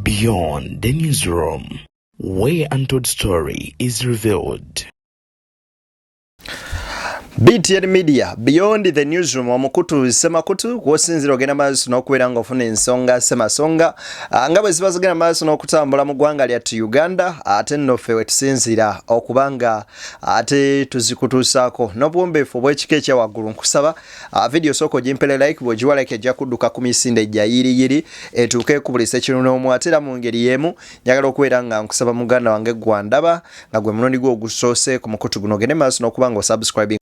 Beyond the newsroom, where untold story is revealed. BTN Media Beyond the Newsroom omukutu semakutu kwosinzira ogenda maaso n'okubeera ng'ofuna ensonga semasonga ah, nga bwe ziba zigenda maaso n'okutambula mu ggwanga lyattu Uganda ate nno ffe we tusinziira okuba nga ate tuzikutuusaako n'obuwombeefu obw'ekika ekya waggulu nkusaba ah, vidiyo sooka ogimpele like bw'ogiwa like ejja kudduka ku misinde egya yiriyiri etuuke ku buli sekinonoomu ate era mu ngeri y'emu njagala okubeera nga nkusaba muganda wange gwandaba nga gwe mulundi gwe ogusoose ku mukutu guno ogende maaso n'okuba nga osubscribing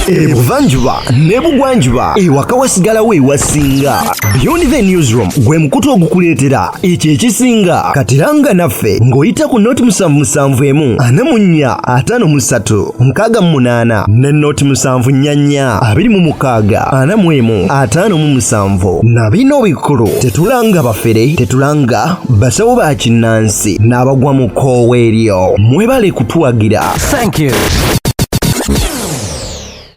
ebuvanjuba nebugwanjuba ewaka wasigalawo ewasinga beyond the newsroom gwe mukutu ogukuleetera ekyo ekisinga katiranga naffe ng'oyita ku nooti musanvu musanvu emu ana mu nnya ataano mu ssatu nkaaga mu munaana ne nooti musanvu nnya nnya abiri mu mukaaga ana mu emu ataano mu musanvu na bino bikulu tetulanga bafere tetulanga basawo ba kinnansi n'abagwa mu koowa eryo mwebale kutuwagira thank you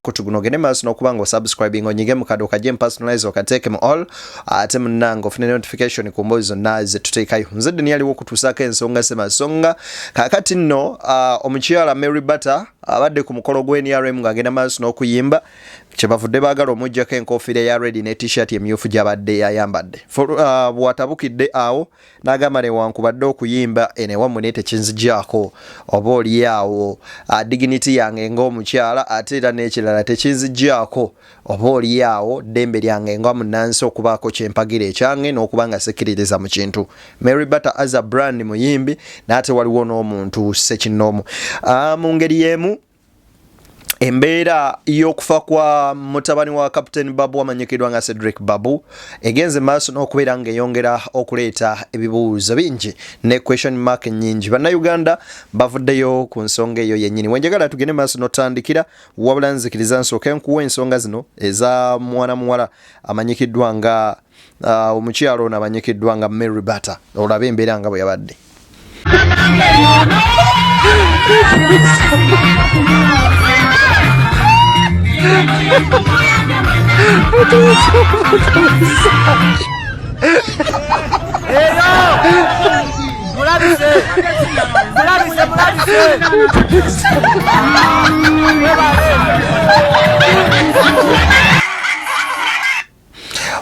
kutuguno ogende maaso n'okuba nga osubscribing onyige mu kado kajje mu personalize okateeke mu all ate munange ofune notification ku mboozi zonna zetuteekayo nze ddeni yaliwo okutuusaako ensonga semasonga kakati nno uh, omukyala mary butter abadde ku mukolo gwa nrm ng'agenda maaso n'okuyimba kyebavudde baagala omugjako enkofiira ya redi ne t-shirt emyufu gyabadde yayambadde uh, bwatabukidde awo N'agamba newankubadde okuyimba eno ewammwe naye tekinzigyako oba olyawo dignity yange ng'omukyala ate era n'ekirala tekinzigyako oba olyawo ddembe lyange nga munnansi okubaako kye mpagira ekyange n'okuba nga sikkiririza mu kintu. Mary Bata as a brand muyimbi naye ate waliwo n'omuntu ssekinnoomu. Mu ngeri y'emu, embeera y'okufa kwa mutabani wa captain babu amanyikiddwa nga cedric babu egenze maaso n'okubeera ng'eyongera okuleeta ebibuuzo bingi ne question mark nyingi bannayuganda bavuddeyo ku nsonga eyo yennyini wenjagala tugende maaso notandikira wabula nzikiriza nsooke nkuwa ensonga zino eza mwana muwala amanyikiddwa nga Ah, omukyalo ono abanyikiddwa nga mary batter olaba embeera nga bwe yabadde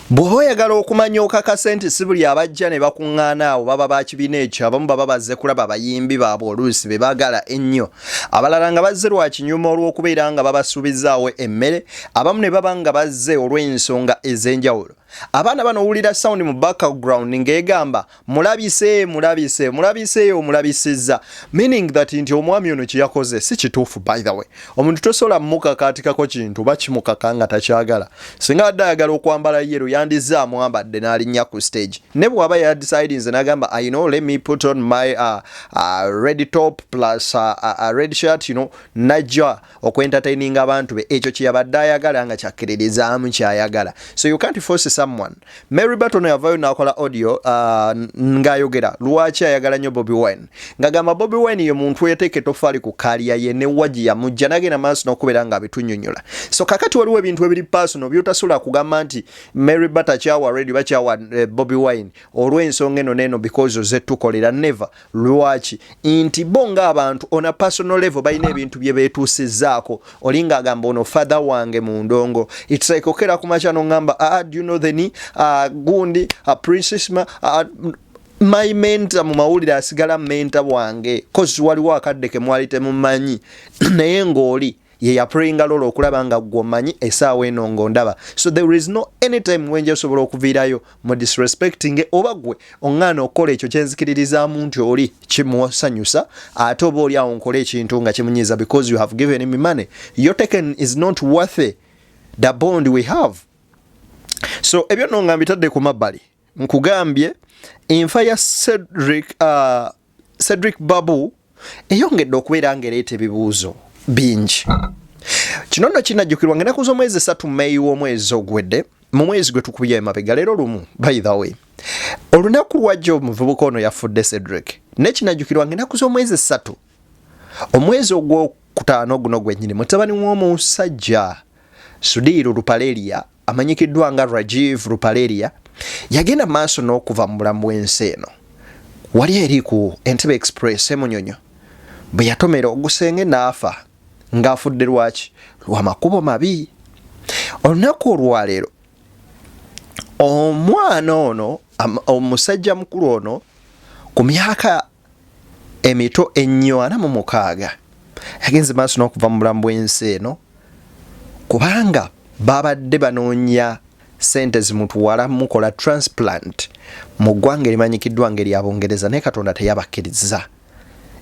bw'oba oyagala okumanya okakase nti si buli abajja ne bakuŋŋaana awo baba ba kibiina ekyo abamu baba bazze kulaba bayimbi baabwe oluusi be baagala ennyo abalala nga bazze lwa kinyuma olw'okubeera nga babasuubizaawo emmere abamu ne baba nga bazze olw'ensonga ez'enjawulo abaana bano owulira sawundi mu background ng'egamba mulabise mulabise mulabise omulabisizza meaning that nti omwami ono kyeyakoze si kituufu by the way omuntu tosobola mukakaatikako kintu oba kimukaka nga takyagala singa adde ayagala okwambala yero yandizza amwambadde n'alinnya ku stage ne bw'aba yadisidinze n'agamba i know let me put on my uh, uh, red top plus uh, uh, uh, red shirt you know najja okwentataininga abantu be ekyo kyeyabadde ayagala nga kyakkiririzaamu kyayagala so you can't force someone mary baton yavayo nakola audio uh, ngaayogera lwaki ayagala nnyo bobi wine ngagamba bobi wine ye muntu eyateeka etofaali ku kaliya ye ne waji yamujja nagenda maaso nokubeera nga abitunyonyola so kakati waliwo ebintu ebiri personal byotasobola kugamba nti mary bat akyawa radio bakyawa eh, bobi wine olw'ensonga eno neeno because oze tukolera never Lwaki? Nti bo ng'abantu on a personal level balina ebintu bye beetuusizzaako. Oli ng'agamba ono father wange mu ndongo. It's like okera ku makya n'ongamba ah, ah, do you know the ni ah, gundi ah, princess ma ah, ah my mentor mu mawulire asigala mentor wange kozi waliwo akadde ke mwali temumanyi naye ng'oli ye yaprayinga lolo okulaba nga gwe omanyi esaawa eno nga ondaba so there is no any time wenja osobola okuviirayo mu disrespecting oba gwe oŋŋaana okukola ekyo kyenzikiririzaamu nti oli kimusanyusa ate oba oli awo nkole ekintu nga kimunyiiza because you have given me money your taken is not worthy the bond we have so ebyo no nga mbitadde ku mabbali nkugambye enfa ya cedric uh, cedric babu eyongedde okubeera ngaereeta ebibuuzo bingi kino nno kinajjukirwa nga enaku z'omwezi esatu meyi w'omwezi ogwedde mu mwezi gwe tukubye emabega leero lumu by the way olunaku lwajjo omuvubuka ono yafudde cedric naye kinajjukirwa nga enaku z'omwezi esatu omwezi ogwokutaano guno gwennyini mutabani w'omusajja sudiiru lupaleria amanyikiddwa nga Rajiv Ruparelia yagenda mu maaso n'okuva mu bulamu bw'ensi eno wali eri ku Entebbe Express e Munyonyo bwe yatomera ogusenge n'afa ng'afudde lwaki lwa makubo mabi olunaku olwaleero omwana ono omusajja mukulu ono ku myaka emito ennyo ana mu mukaaga yagenze maaso n'okuva mu bulamu bw'ensi eno kubanga babadde banoonya sente zimutwala mukola transplant mu ggwanga erimanyikiddwa ngaerya bungereza naye katonda teyabakkiriza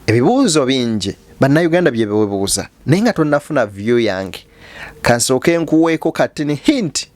ebibuuzo bingi bannayuganda byebewebuuza naye nga tonnafuna vyu yange kansooke nkuweeko katini hinti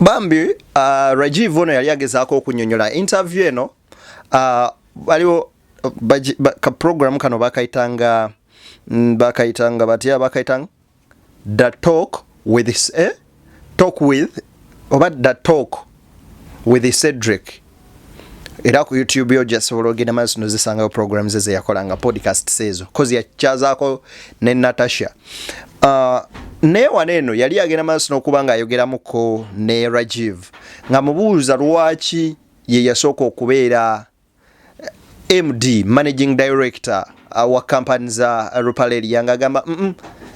bambi uh, rajiv ono yali agezaako okunyonyola interview eno uh, waliwo ka program kano bakayitanga mm, bakayitanga batya bakayitanga the talk with eh? talk with oba the talk with Cedric era ku youtube yo gyasobola ogenda maaso nozisangayo program ze zeyakola nga podcast seezo kozi yakyazaako ne natasha uh, naye wano eno yali agenda maaso nokuba nga ayogeramuko ne rajiv nga mubuuza lwaki ye yasooka okubeera md managing director uh, wa kampani za uh, rupaleli yanga agamba mm -mm.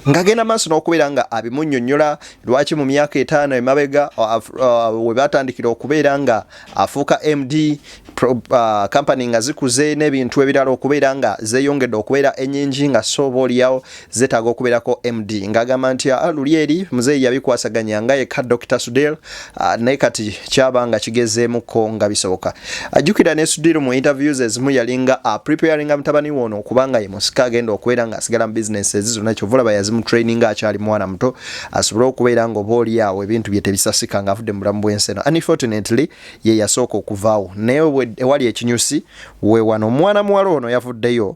ngagenda maaso n'okubeera nga abimunyonyola lwaki mu myaka etaano emabega uh, uh, we batandikira okubeera nga afuuka md uh, kampani nga zikuze n'ebintu ebirala okubeera nga zeyongedde okubeera enyingi nga sooba olyawo zetaaga okubeerako md ng'agamba nti ah, luli eri muzeeyi yabikwasaganya nga yekka dr sudel ah, naye kati kyaba nga kigezeemuko nga bisoboka ajjukira ne sudil mu interviews ezimu yalinga ah, preparinga mutabani woono okubanga ye musika agenda okubeera ng'asigala mu bizinesi ezi zonna kyova olaba yazimu training akyali mwana muto asobole okubeera nga oba oli awo ebintu bye tebisasika ng'avudde mu bulamu bw'ensi eno unfortunately ye yasooka okuvaawo naye ewali ekinyusi we wano omwana muwala ono yavuddeyo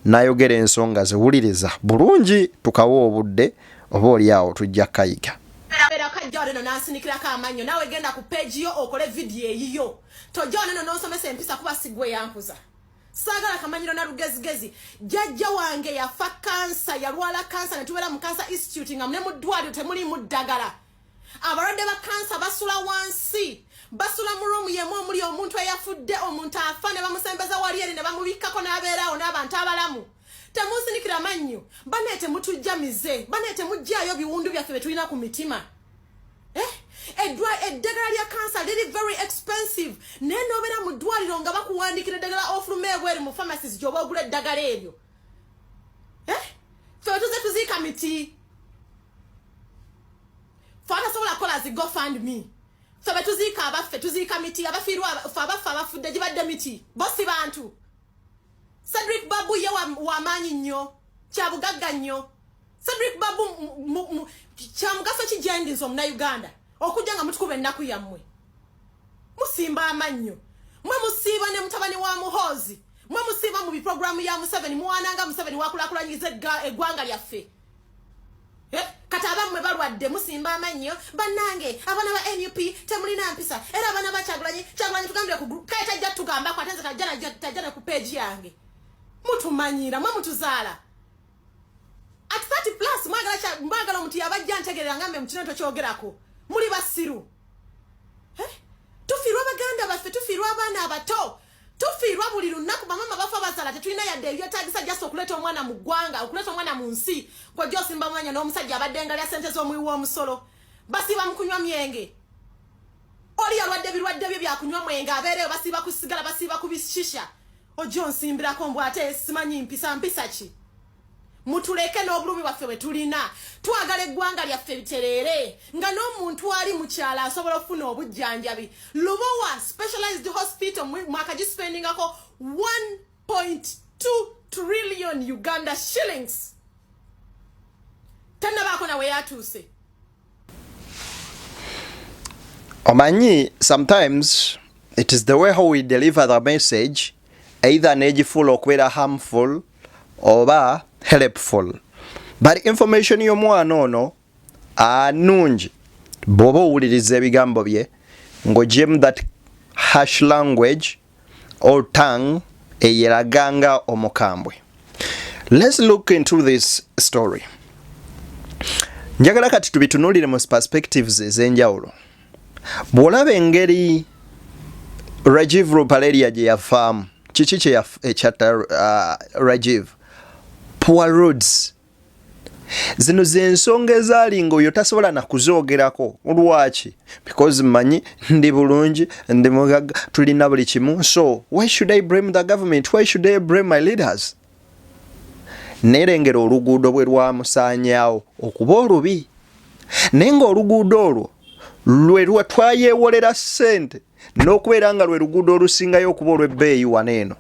nayogera ensonga ze wuliriza bulungi tukawa obudde oba oli awo tujja kayiga ojjaoleno nansinikirako amannyo nawe genda ku peegi yo okole vidiyo eyiyo tojaoleno nonsomesa empisa kuba sigwe yankuza sagala kamanyiro na lugezigezi jajja wange yafa kansa yalwala kansa netubeera mu kansa institute nga mune mu ddwaliro temuliimu ddagala abalwadde ba kansa basula wansi basula mu ruumu yemu omuli omuntu eyafudde omuntu afa ne bamusembeza wali eri ne bamubikkako n'abeeraawo n'abantu abalamu temunsinikira mannyo banaye temutujja mize banaye temugjayo biwundu byaffe bye tulina ku mitima eh? eddagala lya kansa liri very expensive naye nobeera mu ddwaliro nga bakuwandikira eddagala ofuluma ebweru mu pharmacies gyoba ogula eddagala eryo eh? fe tuze tuziika miti fe atasobola kukola zi gofund me fe betuziika abaffe tuziika miti abafiirwa fe abaffe abafudde gibadde miti bo si bantu cedric babu ye wamaanyi nnyo kyabugagga nnyo cedric babu kyamugaso ki gyendi nze omunauganda okujja nga mutukuba ennaku yammwe musimba amannyo mwe musiiba ne mutabani wa muhoozi mwe musiiba mu biproguramu ya museveni muwananga museveni wakulakulanyiriza eggwanga lyaffe eh, kati abamwe balwadde musimba amannyo bannange abaana ba nup temulina mpisa era abaana ba kyagulanyi kyagulanyi tugambire ku group kale tajja tugambako ate nze tajja ne ku peegi yange mutumanyira mwe mutuzaala at 30 plus mwagala mwagala omuntu yabajja ntegerera ngambe mukino tokyogerako muli basiru eh? tufirwa baganda baffe tufirwa abaana abato tufiirwa buli lunaku bamama bafa basala tetulina yadde ebyetagisa just okuleeta omwana mu ggwanga okuleeta omwana mu nsi kwojja osimba mwanya n'omusajja abadde ngalya sente z'omuwi w'omusolo basiiba mu kunywa myenge oli yalwadde ebirwadde bye byakunywa mwenge abeereyo basiiba ku sigala basiiba ku bishisha ojja onsimbirako mbw ate simanyi mpisa mpisa ki mutuleke n'obulumi bwaffe bwe tulina twagala eggwanga lyaffe bitereere nga n'omuntu ali mukyalo asobola okufuna obujjanjabi lubowa specialized hospital mwaka gispendingako 1.2 trillion uganda shillings tanabaako nawe yatuuse omanyi sometimes it is the way how we deliver the message either negifuula okubeera harmful oba helpful but information y'omwana ono anungi bw'oba owuliriza ebigambo bye ng'ogyemu that hash language or tongue eyeraga nga omukambwe let's look into this story njagala kati tubitunulire mu perspectives ez'enjawulo bw'olaba engeri rajiv rupaleria gye yafaamu kiki kyeyatta eh, uh, rajiv poor roads zino zensonga ezaali nga oyo tasobola nakuzoogerako lwaki because manyi ndi bulungi ndi mugaga tulina buli kimu so why should i blame the government why should i blame my leaders nerengera oluguudo bwe lwamusaanyawo okuba olubi naye nga oluguudo olwo lwe lwetwayewolera ssente n'okubeera nga lwe luguudo olusingayo okuba olw'ebbeeyi wano eno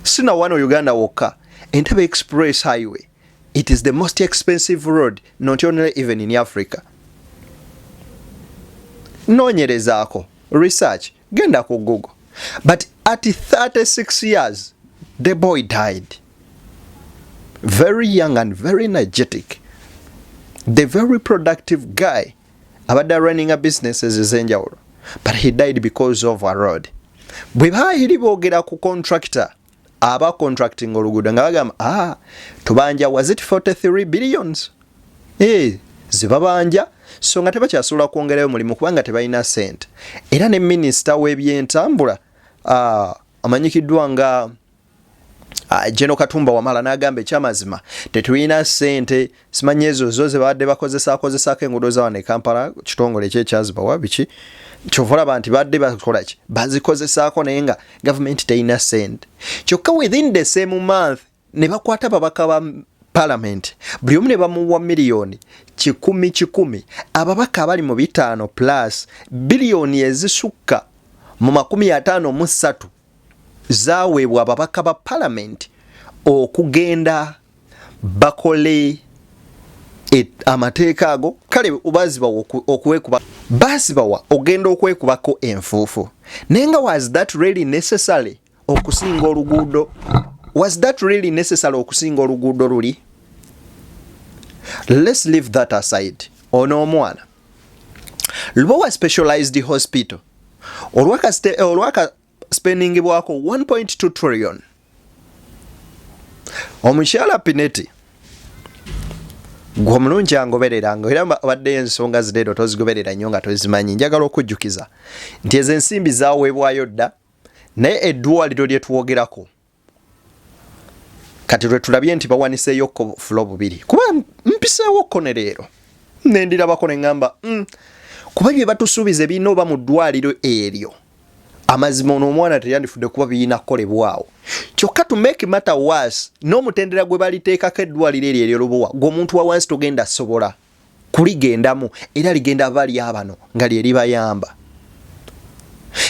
si na wano uganda wokka entebe express highway it is the most expensive road not only even in africa noonyerezaako research genda ku google but at 36 years the boy died very young and very energetic the very productive guy abadde runninga businesses ezenjawulo but he died because of a road bwe baayiri boogera ku contractor aba contracting oluguudo nga bagamba ah, tubanja was it 43 billions eh, zibabanja so nga tebakyasobola kwongerayo mulimu kubanga tebalina sente era ne minisita w'ebyentambula ah, amanyikiddwa nga Ah, General Katumba Wamala n'agamba ekyamazima tetulina ssente simanyi ezo zo ze babadde bakozesa akozesaako enguudo za wano e Kampala kitongole ekyo ekyazibawa biki kyova olaba nti badde bakola ki bazikozesaako naye nga gavumenti terina ssente kyokka within the same month ne bakwata babaka ba palamenti buli omu ne bamuwa miliyoni kikumi kikumi ababaka abali mu bitaano plus biliyoni ezisukka mu makumi ataano mu ssatu zaweebwa ababaka ba palamenti okugenda bakole e, amateeka ago kale bazibawa okwekuba bazibawa ogenda okwekubako enfuufu naye nga was that really necessary okusinga oluguudo was that really necessary okusinga oluguudo luli let's leave that aside ono omwana lubowa specialized hospital olwaka olwaka spending bwako 1.2 trillion omukyala pineti gwe omulungi angoberera nga era abadde ensonga zireero tozigoberera nnyo nga tozimanyi njagala okujjukiza nti ezo ensimbi zaweebwayo dda naye eddwaliro lye twogerako kati lwetulabye nti bawaniseeyo ko fulo bubiri kuba mpiseewo ko ne leero nendirabako neŋamba mm, kuba bye batusuubiza ebirina oba mu ddwaliro eryo amazima ono omwana teyandifudde kuba birina kukolebwawo kyokka to make matter was n'omutendera gwe baliteekako eddwaliro eryo eryolubuwa gweomuntu wawansi togenda sobola kuligendamu era ligenda bali abano nga lye libayamba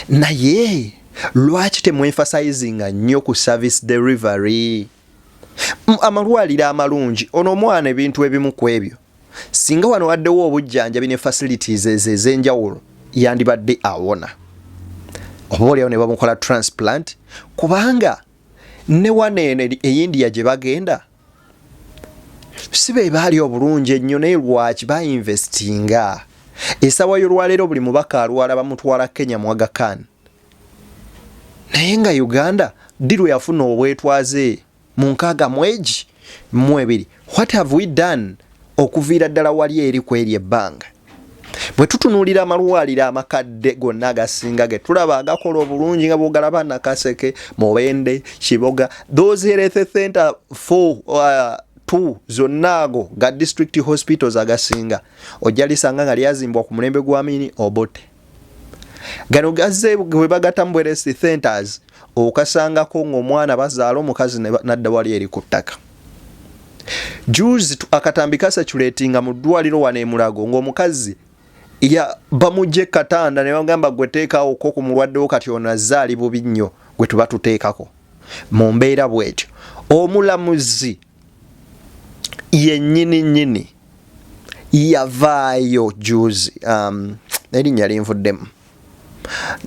naye lwaki temwemfasayizinga nnyo ku service delivery amalwaliro amalungi ono omwana ebintu ebimu ku ebyo singa wano waddewo obujjanjabi ne facilities ezo ez'enjawulo yandibadde awona oba olyawo ne bamukola transplant kubanga ne wano eno eyindiya gye bagenda si be baali obulungi ennyo naye lwaki bainvestinga esawa yolwaleero buli mubaka alwala bamutwala kenya mwagakan naye nga uganda ddi lwe yafuna obwetwaze mu nkaaga mwegi mu ebiri what have we done Okuviira ddala wali eri ku eryo ebbanga, bwe tutunuulira amalwaliro amakadde gonna agasinga ge tulaba agakola obulungi nga bw'ogalaba Nakaseke, Mubende, Kiboga, those health center four uh, two zonna ago ga district hospitals agasinga ojja lisanga nga lyazimbwa ku mulembe gwa mini Obote. gano gazze bwe bagata mu bweresi centers okasangako ng'omwana bazaala omukazi nadda wali eri ku ttaka juzi akatambi kasaculetinga mu ddwaliro wano emulago ng'omukazi ya bamugye katanda ne bagamba gwe teekaawo ko ku mulwaddewo kati ono azze ali bubi nnyo gwe tuba tuteekako mu mbeera bwetyo omulamuzi yennyini nnyini yavaayo juzi um, erinnya linvuddemu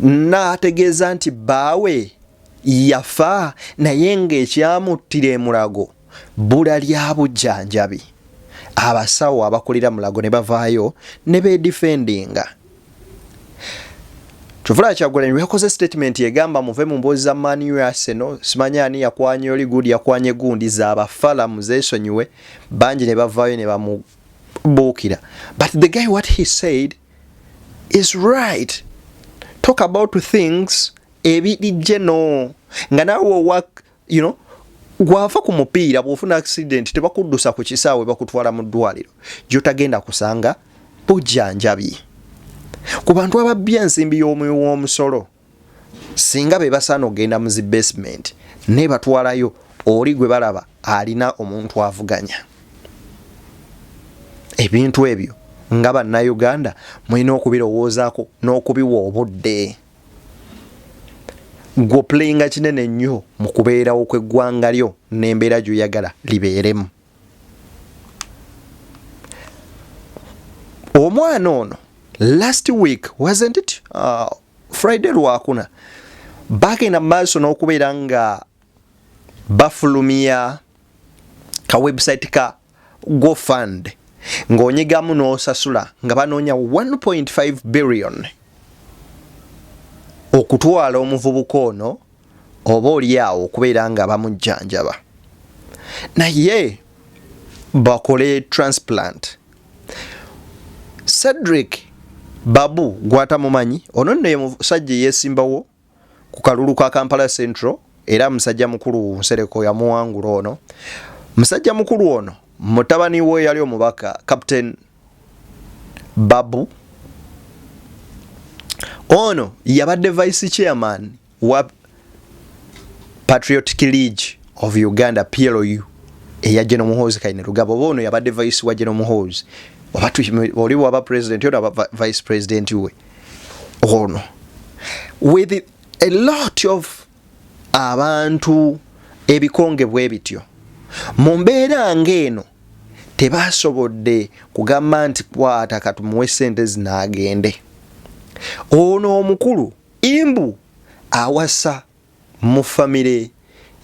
n'ategeeza nti bbaawe yafa naye ng'ekyamuttira emulago bbula lya bujjanjabi abasawo abakulira mulago ne bavaayo ne beedifendinga Kyovula Kyagulanyi lweyakoze statement egamba muve mu mboozi za Man U Arsenal simanyi ani yakwanye oli good yakwanye gundi za bafala muzesonyiwe bangi ne bavaayo ne bamubuukira but the guy what he said is right talk about things ebirijje no nga nawe owak you know gwafa ku mupiira bwofuna accident tebakuddusa ku kisaawe bakutwala mu ddwaliro gyotagenda kusanga bujjanjabi ku bantu ababbi ensimbi y'omuwi w'omusolo singa be basaana okugenda mu zi basement naye batwalayo oli gwe balaba alina omuntu avuganya ebintu ebyo nga bannayuganda mulina okubirowoozaako n'okubiwa obudde gwoplayinga kinene nnyo mu kubeerawo kw'eggwanga lyo n'embeera gy'oyagala libeeremu omwana ono last week wasn't it uh, friday lwakuna bagenda maaso n'okubeera nga bafulumya ka website ka go fund ng'onyigamu n'osasula nga banoonya 1.5 billion okutwala omuvubuka ono oba olyawo okubeera nga bamujjanjaba naye bakole transplant cedric babu gwatamumanyi ono nno ye musajja eyesimbawo ku kalulu ka Kampala Central era musajja mukulu Nsereko yamuwangula ono musajja mukulu ono mutabani we yali omubaka Captain Babu ono yabadde vice chairman wa Patriotic League of Uganda PLU eya Jeno Muhozi kaine lugabo oba ono yabadde vice wa Jeno Muhozi oba oli waba president ono aba vice president we ono with a lot of abantu ebikonge bwe bityo mu mbeera ng'eno tebasobodde kugamba nti kwata katumuwe ssente zinaagende ono omukulu imbu awasa Mu family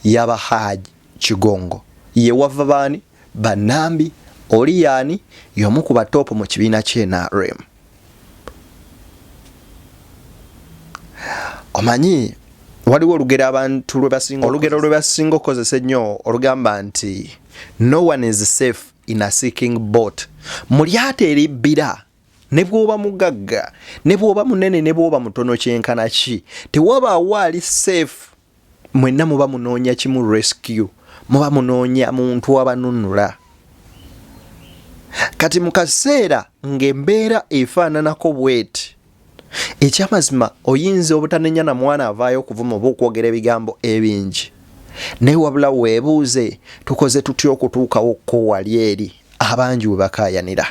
ya ba Hajj Kigongo ye wava baani? Ba Nambi. Oli yaani? Y'omu ku ba top mu kibiina kye nrm. Omanyi waliwo olugero abantu lwe basinga olugero lwe basinga okukozesa ennyo olugamba nti no one is safe in a seeking boat. Mu lyato eribbira ne bw'oba mugagga ne bw'oba munene ne bw'oba mutono kyenkana ki tewabaawo ali safe mwenna muba munoonya kimu rescue muba munoonya muntu abanunula kati mu kaseera ng'embeera efaananako bweti ekyamazima oyinza obutanenya na mwana avaayo okuvuma oba okwogera ebigambo ebingi naye wabula weebuuze tukoze tutya okutuukawo kko wali eri abangi we bakaayanira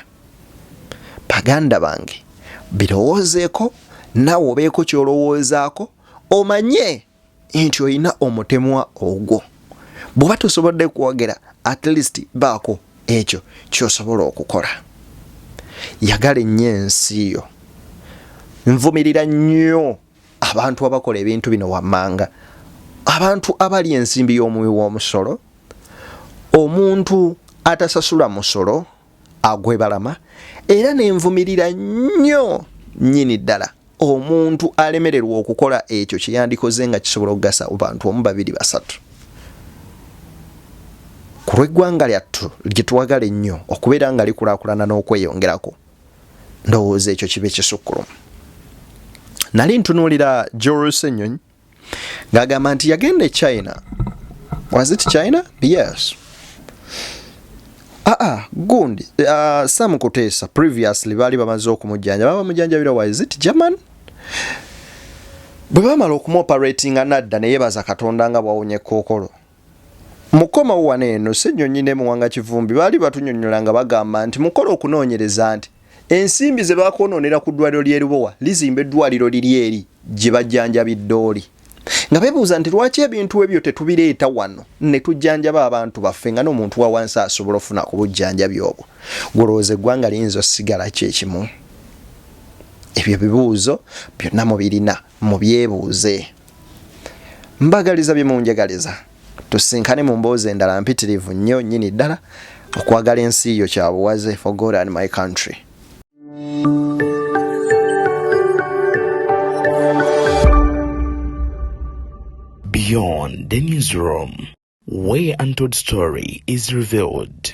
baganda bange birowoozeeko naawe obeeko kyolowoozaako omanye nti olina omutemwa ogwo bw'oba tosobodde kwogera at least baako ekyo kyosobola okukola yagala ennyo ensi yo nvumirira nnyo abantu abakola ebintu bino wammanga abantu abali ensimbi y'omuwi w'omusolo omuntu atasasula musolo agwebalama era nenvumirira nnyo nyini ddala omuntu alemererwa okukola ekyo kyeyandikoze nga kisobola okugasa bantu omu babiri basatu ku lweggwanga lyattu gyetwagala ennyo okubeera nga likulakulana n'okweyongerako ndowooza ekyo kiba ekisukkulumu nali ntunuulira jorusenyonyi ng'agamba nti yagenda e china was it china yes aa ah, ah, gundi uh, ah, sam kuteesa previously baali bamaze okumujjanja baba mujanjabira was it german bwe bamala okumoperatinga nadda neyebaza katonda nga bwawonye kookolo Mukomawo wano eno, Ssenyonyi ne Muwanga Kivumbi baali batunyonyola nga bagamba nti mukola okunoonyereza nti ensimbi ze baakwonoonera ku ddwaliro ly'e Lubowa lizimba eddwaliro liri eri gye bajjanjabidde oli nga bebuuza nti lwaki ebintu ebyo tetubireeta wano ne tujjanjaba abantu baffe nga n'omuntu wa wansi asobola ofuna ku bujjanjabi obwo gwolowooza eggwanga liyinza osigala ki ekimu ebyo bibuuzo byonna mubirina mubyebuuze. mbagaliza bye munjagaliza tusinkane mu mboozi endala mpitirivu nnyo nnyini ddala okwagala ensi yo kya buwaze for god and my country beyond the newsroom where untold story is revealed